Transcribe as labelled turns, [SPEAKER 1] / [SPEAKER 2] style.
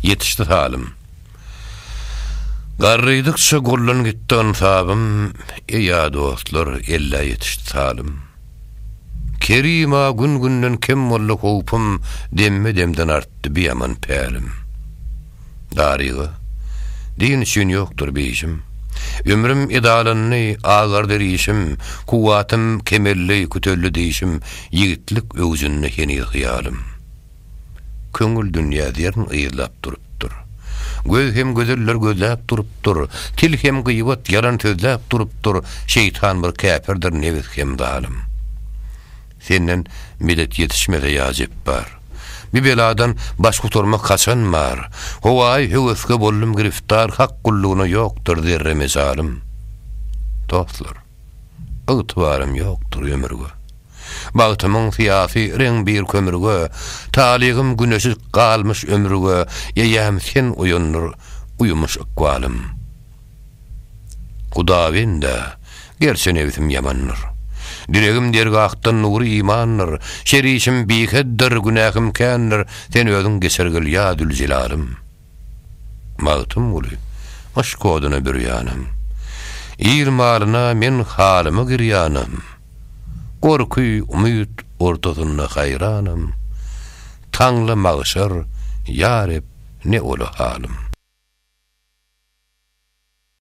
[SPEAKER 1] Ýetişdi salym. Garrydykça gurlan gitdi ynsabym, Eý-ä dostlar, ellä ýetişdi salym. Kerim-a gün-günden kem boldy howpum, Demme-demden artdy biaman pälim. Daryga, din üçin ýokdur beýjim, Ömrüm edalandy, agardy rişim, Kuwwatym kemeldi, küteldi dişim, Ýigitlik öwjünde heniz hyýalym. Köňül dünýä zerrin yzlap durupdyr. Göz hem gözeller gözläp durupdyr. Til hem gyýbat, ýalan sözläp durupdyr. Şeýtan bir käpirdir, nebis hem zalym. Senden medet ýetişmese ýa Jepbar. Bu beladan baş gutarmak haçan bar? Howaýy höweske boldum giriftar, hak gullugyna ýokdur zerre mejalym. Dostlar, ygtybarym ýokdur ömürge. Bagtymyň syýasy reň bir kömürge, Talygym güneşi galmyş ömürge, Eýýäm sen oýandyr uýumuş ykbalym. Hudabende, gerçe nebsim ýamandyr, Diregim dergahdan nury imandyr, Şer işim bikeddir, günähim kändir, Sen özüň geçer gel ýa Züljelalym. Magtymguly, yşk oduna bürýänem. Ir maryna men halyma girýänem. Gorky, umyt ortasynda haýranam. Taňla magşar, ýa Reb, ne ola halym.